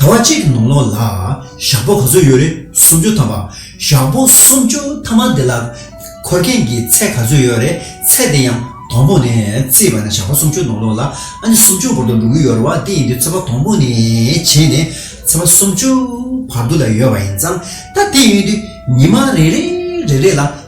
ཟླ་བ་གཅིག་གི་ནང་ལོགས་ལ་ཞག་པོ་ག་ཚོད་ཡོད་རེད་སུམ་ཅུ་ཐམ་པ། ཞག་པོ་སུམ་ཅུ་ཐམ་པ་འདི་ལ་འཁོར་མཁན་གྱི་ཚད་ག་ཚོད་ཡོད་རེད་ཚད་དེ་ཡང་དང་པོ་ནས་བརྩིས་པ་ན་ཞག་པོ་སུམ་ཅུ་ནང་ལོགས་ལ་ཨ་ནི་སུམ་ཅུ་བར་དུ་འགྲོ་གི་ཡོད་རེད་བ་དེ་ཡིན་དུས་ཚོད་པ་དང་པོ་ནས་བྱས་ནས་ཚོད་པ་སུམ་ཅུ་བར་དུ་ལ་ཡོད་པ་ཡིན་ཙང་ད་དེ་ཡིན་དུས་ཉི་མ་རེ་རེ་རེ་རེ་ལ་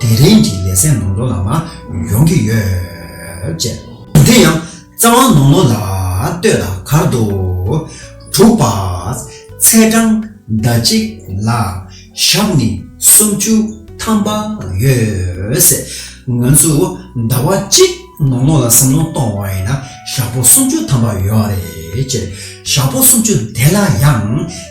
དེ་རིང་གི་ལེ་ཚན་ནང་དོ་ལ་མ་ཡོང་གི་ཡོད། ཅེས། དེ་ཡང་རྩ་བ་ནོར་ནོར་ལ་ལྟོས་ལ་གར་འདུག། དྲུག་པ། ཚེས་གྲངས་ཟླ་གཅིག་ལ་ཞག་ནི་སུམ་ཅུ་ཐམ་པ་ཡོད། ང་ཚོས་ཟླ་བ་གཅིག་ནོར་ནོར་ལ་བསམ་བློ་གཏོང་བ་ཡིན་ན་ཞག་པོ་སུམ་ཅུ་ཐམ་པ་ཡོད་རེད། ཞག་པོ་སུམ་ཅུ་དེ་ལ་ཡང།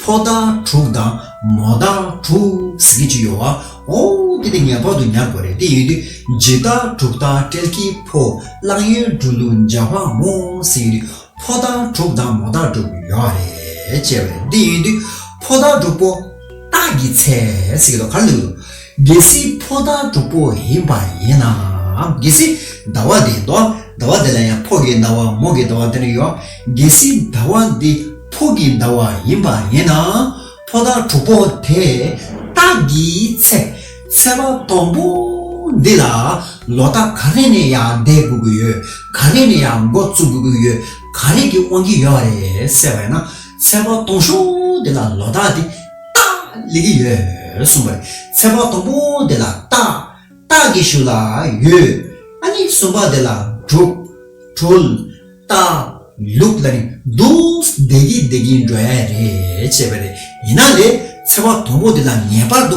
ཕོ་དང་དྲུག་དང་མོ་དང་དྲུག་ཟེར་གྱི་ཅི་ཡོད་བ། ཨོ། དེ་དེ་ངེས་པར་དུ་ཉར་དགོས་རེད་དེ་ཡོད་དུས་ཇི་ལྟར་དྲུག་དང་སྤྲེལ་གྱི་ཕོ་གླང་གཡུ་འབྲུག་ལུག་འཇའ་བ་མོ་ཟེར་ཡོད་དུས་ཕོ་དང་དྲུག་དང་མོ་དང་དྲུག་ཡོད་བ་རེད་ཅེས་པ་རེད་དེ་ཡོད་དུས་ཕོ་དང་དྲུག་པོ། སྟག་གི་ཚལ་ཟེར་གྱི་འདུག་ག་རེ་ལྟོས་གི་འདུག། རྒྱལ་སྲིད་ཕོ་དང་དྲུག་པོ་ཡིན་པ་ཡིན་ནའང་རྒྱལ་སྲིད་ཟླ་བ་དེའི་མདོ་ཟླ་བ་དེ་ལ་ཡང་ཕོ་གི་ཟླ་བ་མོ་གི་ཟླ་བ་འདི་ནི་ཡོད། རྒྱལ་སྲིད་ཟླ་བ་འདི་ཕོ་གི་ཟླ་བ་ཡིན་པ་ཡིན་ནའང་ཕོ་དང་དྲུག་པོ་དེ་དག་གི་ཚེ་ཚད་པ་དང་པོ་འདི་ལ་ལོ་རྟགས་ག་རེ་ནས་ཡང་བསྡད་དགོས་ཀྱི་ཡོད་ག་རེ་ནས་ཡང་འགོ་བཙུགས་དགོས་ཀྱི་ཡོད་ག་རེ་གྱིས་དབང་གི་ཡོད་རེད་ཟེར་བས་ན་ཚད་པ་སྟོང་ཤོག་འདི་ལ་ལོ་རྟགས་འདི་རྟགས་ལས་ཀྱི་ཡོད་གསུངས་པར་ཚེ་དཔག་དང་པོ་དེ་ལ་རྟགས་རྟགས་ཀྱི་ཤུགས་ལ་ཡོད་ཨ་ནི་གསུམ་པ་དེ་ལ་དྲུག་གྲོལ་རྟགས་ལུགས་ལ་ནི་རྡུལ་འདེགས་ཀྱི་འདེགས་ཀྱི་འགྲོ་ཡ་རེད་ཅེས་པ་རེད་ཡིན་ན་ལས་ཚེ་དཔག་དང་པོ་དེ་ལ་ངེས་པར་དུ་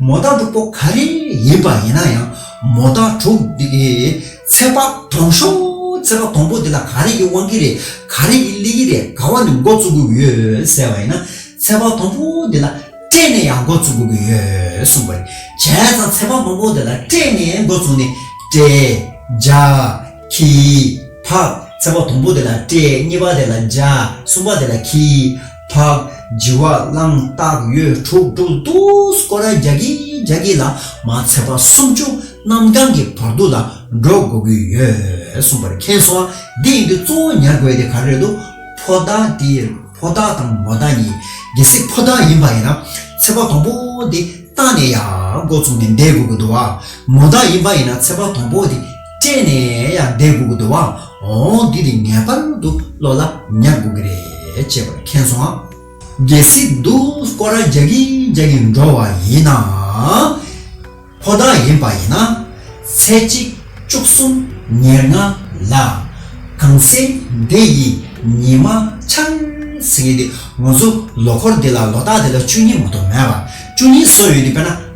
མོ་རྟ་དྲུག་པོ་ག་རེ་ཡིན་པ་ཡིན་ན་ཡང་མོ་རྟ་དྲུག་འདི་ཚད་པ་དང་ཤོག་ཚད་པ་དང་པོ་འདི་ལ་ག་རེ་ཡི་དབང་གིས་རེད་ག་རེ་ཡི་གླེ་གིས་རེད་ག་བ་ནས་འགོ་བཙུགས་དགོས་ཀྱི་ཡོད་ཟེར་བ་ཡིན་ན་ཚད་པ་དང་པོ་འདི་ལ་སྤྲད་ནས་ཡང་འགོ་བཙུགས་དགོས་ཀྱི་ཡོད་གསུངས་པ་རེད་བྱས་ཙང་ཚད་པ་མང་པོ་འདི་ལ་སྤྲད་ནས་འགོ་བཙུགས་ནས་སྤྲད། འཇག། གྱིས། ཕག། ཚད་པ་དང་པོ་འདི་ལ་སྤྲད་གཉིས་པ་འདི་ལ་འཇག་གསུམ་པ་འདི་ལ་གྱིས། དག། བགྱི་བ་བླང་བརྟག་ཡོད་དྲུག་དྲུག་བསྡུ་སྐོར་བརྒྱ་བརྒྱ་བརྒྱ་བརྒྱ་ལ་མ་ཚད་པ་སུམ་བཅུ་རྣམ་གྲངས་ཀྱི་བར་དུ་ལ་འགྲོ་དགོས་ཀྱི་ཡོད་གསུངས་པར་མཁྱེན་སོང་བ་འདི་ཡིན་དུས་གཙོ་བོ་ཉར་དགོས་དེ་ག་རེ་རེད་དུ་ཕོ་རྟགས་དེ་ཕོ་རྟགས་དང་མོ་རྟགས་གཉིས་གལ་སྲིད་ཕོ་རྟགས་ཡིན་པ་ཡིན་ན་ཚེ་བ་དང་པོ་དེ་རྟགས་ནས་ཡག་མགོ་བཙུགས་ནས་བསྡད་དགོས་ཀྱི་འདུག་བ་མོ་རྟགས་ཡིན་པ་ཡིན་ན་ཚེ་བ་དང་པོ་དེ་སྤྱད་ནས་ཡང་བསྡད་དགོས་ཀྱི་འདུག་བ་འོང་འདི་རིགས་ངེས་པར་དུ་བློ་ལ་ཉར་དགོས་ཀྱི་རེད་ཅེས་པར་མཁྱེན་སོང་ཨ། གལ་སྲིད་དུ་སྐོར་ར་རྒྱག་གིན་རྒྱག་གིན་འགྲོ་བ་ཡིན་ན། ཁོ་ན་ཡིན་པ་ཡིན་ན། ཚེ་གཅིག་བཅུ་གསུམ་ཉེར་ལྔ་ལ། གངས་སེང་འདི་ཡི་ཉི་མ་འཆར། ཚེ་འདི་ངོ་ཚོ་ལོ་འཁོར་འདི་ལ་ལོ་རྟགས་འདི་ལ་བཅུ་གཉིས་མ་གཏོགས་མེད་པ། བཅུ་གཉིས་བཟོ་ཡོད་འདི་དཔེར་ན།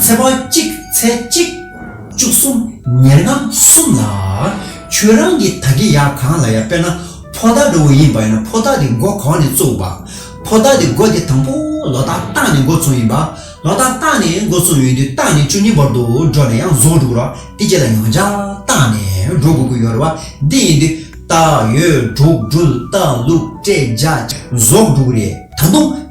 ཚེ་དཔག་གཅིག་ཚེ་གཅིག། བཅུ་གསུམ་ཉེར་ལྔ་གསུམ་ལ། ཁྱོད་རང་གི་ད་གེ་ཡག་གང་ལ་ཡ་དཔེར་ན་ཕོ་རྟགས་འགྲོ་བོ་ཡིན་པ་ཡིན་ན་ཕོ་རྟགས་དེ་འགོ་གང་ནས་བཙུགས་པ། ཕོ་རྟགས་དེ་འགོ་དེ་དང་པོ་ལོ་རྟགས་རྟགས་ནས་འགོ་བཙུགས་ཡིན་པ། ལོ་རྟགས་རྟགས་ནས་འགོ་བཙུགས་ཡོད་དུས་རྟགས་ནས་བཅུ་གཉིས་བར་དུ་འགྲོ་ནས་ཡང་གཟུགས་འགྲོ་ར་དེ་རྗེས་ལ་ཡང་བྱ་རྟགས་ནས་འགྲོ་དགོས་ཀྱི་ཡོད་ར་བ་འདི་ཡིན་དུས་རྟགས་ཡོད་འགྲོ་འགྲུལ་རྟགས་ལུགས་སྤྲད་བྱ་གཟུགས་འགྲོ་རེད་ད་དུང།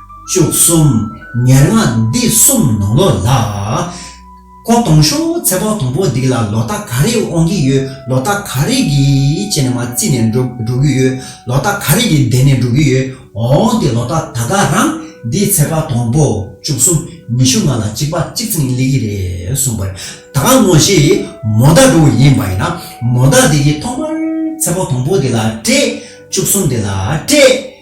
བཅུ་གསུམ། ཉེར་ལྔ་འདི་གསུམ་ནང་ལོ་ལ། ཁོ་གཏོང་ཤོག་ཚེ་དཔག་དང་པོ་འདིག་ལ་ལོ་ཏག་ག་རེ་འོང་གི་ཡོད་ལོ་ཏག་ག་རེ་གི་ཆེ་ནས་མ་རྩིས་ནས་འགྲོ་འགྲོ་གི་ཡོད་ལོ་ཏག་ག་རེ་གི་བསྡད་ནས་འགྲོ་གི་ཡོད་འོང་དེ་ལོ་ཏག་ད་ག་རང་འདི་ཚེ་དཔག་དང་པོ་བཅུ་གསུམ་ཉི་ཤུ་ལྔ་ལ་གཅིག་པ་གཅིག་ཚིག་ནི་ལེགས་ཀྱི་རེད་གསུངས་པར་ད་ག་ངོ་ཤེས་མོ་ད་འགྲོ་བ་ཡིན་པ་ཡིན་ན་མོ་ད་འདི་གི་ཐོག་མར་ཚེ་དཔག་དང་པོ་འདི་ལ་སྤྲད་བཅུ་གསུམ་འདི་ལ་སྤྲད།